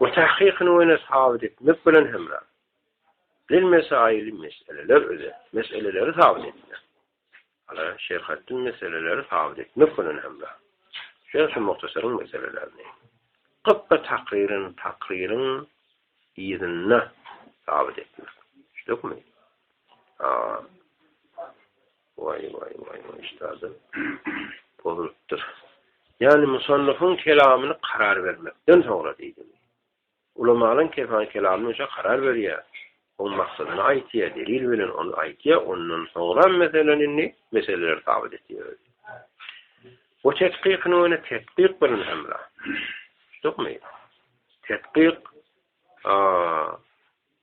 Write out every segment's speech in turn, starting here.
we tahkykyny ýöne sabyt etmek bilen hemram. Bilmese aýly meseleler özet, meseleleri sabyt etmek. Ala şerhatdy meseleleri sabyt etmek bilen hemram. Şeýle şu muhtasaryň meselelerini. Gypba takryryny takryryň yzynda sabyt etmek. Şudugymy? Aa. Waý waý waý maşdada pozulypdyr. Ýani musannyfyň kelamyny karar bermekden soňra diýdim. Ulamalyň kesan kelamyny şa karar berýär. Oň maksadyny aýtýar, delil bilen ony aýtýar, ondan soňra meseleni indi meseleler sabyt etýär. Bu tetkyk näme tetkyk bilen hemra. Şumy? Tetkyk a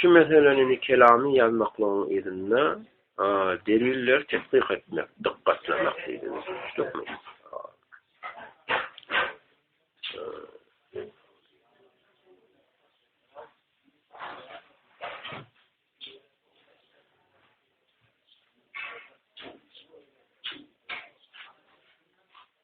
Şu meseleni kelamy ýazmaklygyň yzynda delilleri tessyk etmek, dykgatlamak diýdiňiz. Düşdükmi?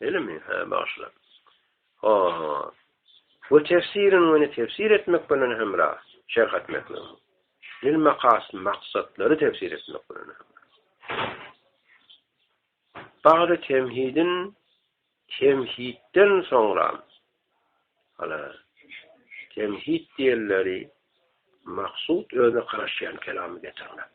Elimi, hä, bagyşla. Ha. We tefsirin we tefsir etmek bilen hemra, şerh etmek bilen. Lil maqas maksatlary tefsir etmek bilen. Bagda temhidin temhidden soňra ala temhid diýenleri maksud özüne garaşýan kelamy getirmek.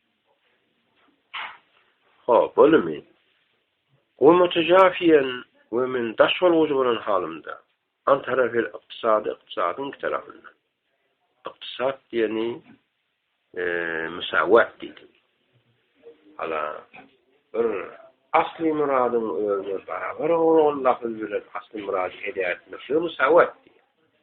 Hop, olumy? Gurmaça jaf iýen we men daş bolgujy bolan halymda, antarafel ykdysady ykdysadyň iki tarapyndan. Ykdysat diýeni, eee, musawat diýdik. Hala, bir asly myradyň özüne barabar bolmaly lafzy bilen asly myrady eda etmek, şuny musawat diýýär.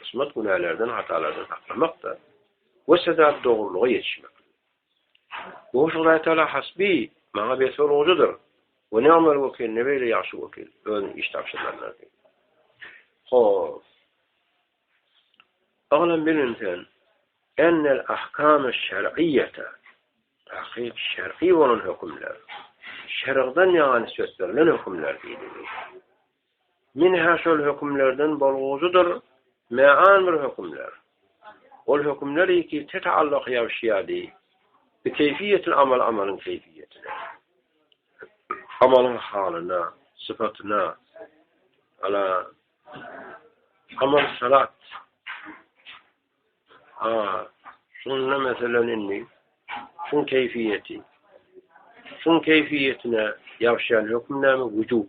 Hysmat günälerden, hatalardan saklamakda we sedap dogrulyga ýetişmek. Goşgy Raýtala hasbi, maňa besol gojadyr, we ne Ömer wekil, ne beýle ýagşy wekil, özüne iş tabşyrýanlar. Hop. Oglan bilin sen, ennel ahkamy şer'iýete, takyk şer'i bolan hökümler, şergden ýaňa nisbet berlen hökümler diýdi. Min-hä şol hökümlerden bolguzydyr mä-an bir hökümler. Ol hökümler iki te-taalluky ýabşýady, bi keýfiýetil amal amalyň keýfiýetine, amalyň halyna, sypatyna, ala, amal salat. A, şunda meselen indi, şuň keýfiýeti, şuň keýfiýetine ýabşýan höküm näme? Wüjub.